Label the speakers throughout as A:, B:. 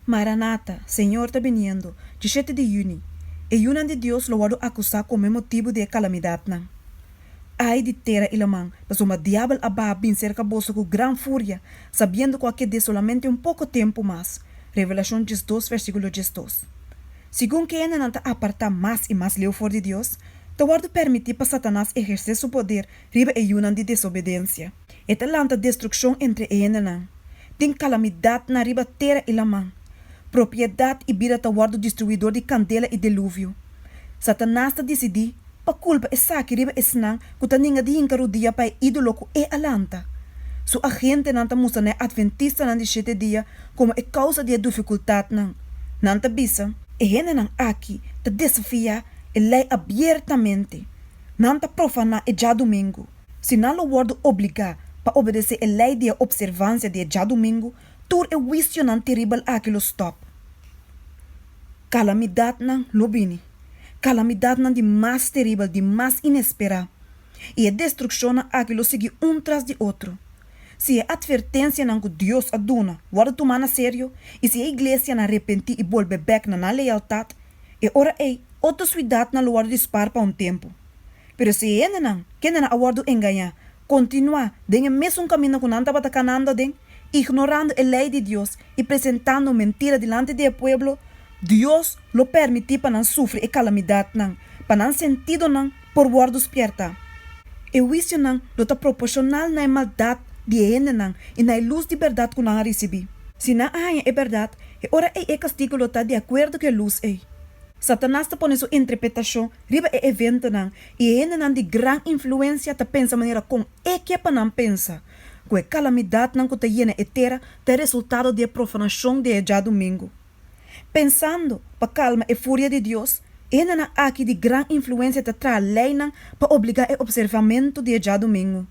A: Maranata, Señor ta biniendo! Dishete di yüni, e yunan di Dios lo wòrdu akusá kome motibu di e kalamidatnan. Ai di tera i laman, pasobra Diabel a baha bin serka boso ku gran furia, sabiendo ku a ked'é solamente un poko tempu mas! Revelashon diesdos, versíkulo diesdos. Segun ke hendenan ta apartá mas i mas leu for di Dios, ta wòrdu pèrmití pa Satanas ehersé su poder riba e yunan di desobedensia. E ta lanta destrukshon entre e hendenan. Tin kalamidatnan riba tera i laman. Propiedat i bida ta wòrdu destruí dor di kandela i deluvio. Satanas ta disidí pa kulpa esaki riba esnan ku ta ninga di hinka rudia pa e ídolo ku e a lanta. Su agentenan ta mustra na e Adventistanan di Shete Dia komo e kousa di e dufikultatnan. Nan ta bisa. E hendenan aki ta desafiá e Lei abiertamente. Nan ta profaná e djadumingu. Si nan lo wòrdu obligá pa obedesé e lei di e opservansia di e djadumingu, tur e huisionan teribel aki lo stòp. Kalamidatnan lo bini, kalamidatnan di mas teribel, di mas inesperá, i e destrukshonnan aki lo sigui un tras di otro. Si e atvertensianan ku Dios a duna wòrdu tumá na serio, i si e iglesianan repentí i bolbe bèk na nan lealtat, E ora ei, otro suidatnan lo wòrdu dispar pa un tempu. Pero si e hendenan, kende nan a wòrdu engañá, kontinuá den e mesun kaminda ku nan tabata kanando den, ignorando e lei di Dios i presentando mentira dilanti di e pueblo, Dios lo pèrmití pa nan sufri e kalamidatnan, pa nan sentidonan por wòrdu spièrta. E huisionan lo ta proporshonal na e maldat di e hendenan i na e lus di bèrdat ku nan a risibí. Si nan a haña e bèrdat, e ora ei e kastigu lo ta di akuerdo ku e lus ei. Satanas ta pone su interpretashon riba e eventonan i e hendenan di gran influensia ta pensa manera kon e ke pa nan pensa ku e kalamidatnan ku ta yena e tera ta e resultado di e profanashon di e djadumingu. Pensando pa kalma e furia di Dios, hendenan aki di gran influensia ta traha leinan pa obligá e opservamentu di e djadumingu.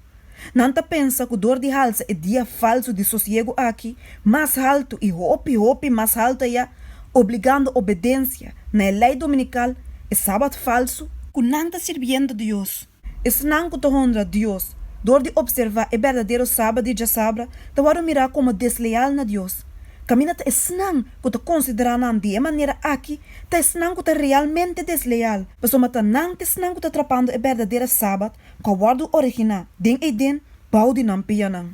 A: Nan ta pensa ku dor di halsa e dia falsu di sosiegu aki mas haltu i hopi, hopi mas haltu ayá, obligando obedensia na e lei dominikal, e sabat falsu, ku nan ta sirbiendo Dios Esnan ku ta honra Dios dor di opservá e berdadero Sabat di djasabra ta wòrdu mirá komo desleal na Dios. Kaminda ta esnan ku ta konsiderá nan di e manera akí ta esnan ku ta realmente desleal, pasobra ma ta nan t'esnan ku ta trapando e berdadera Sabat ku a wòrdu originá den Eden bou di nan pianan.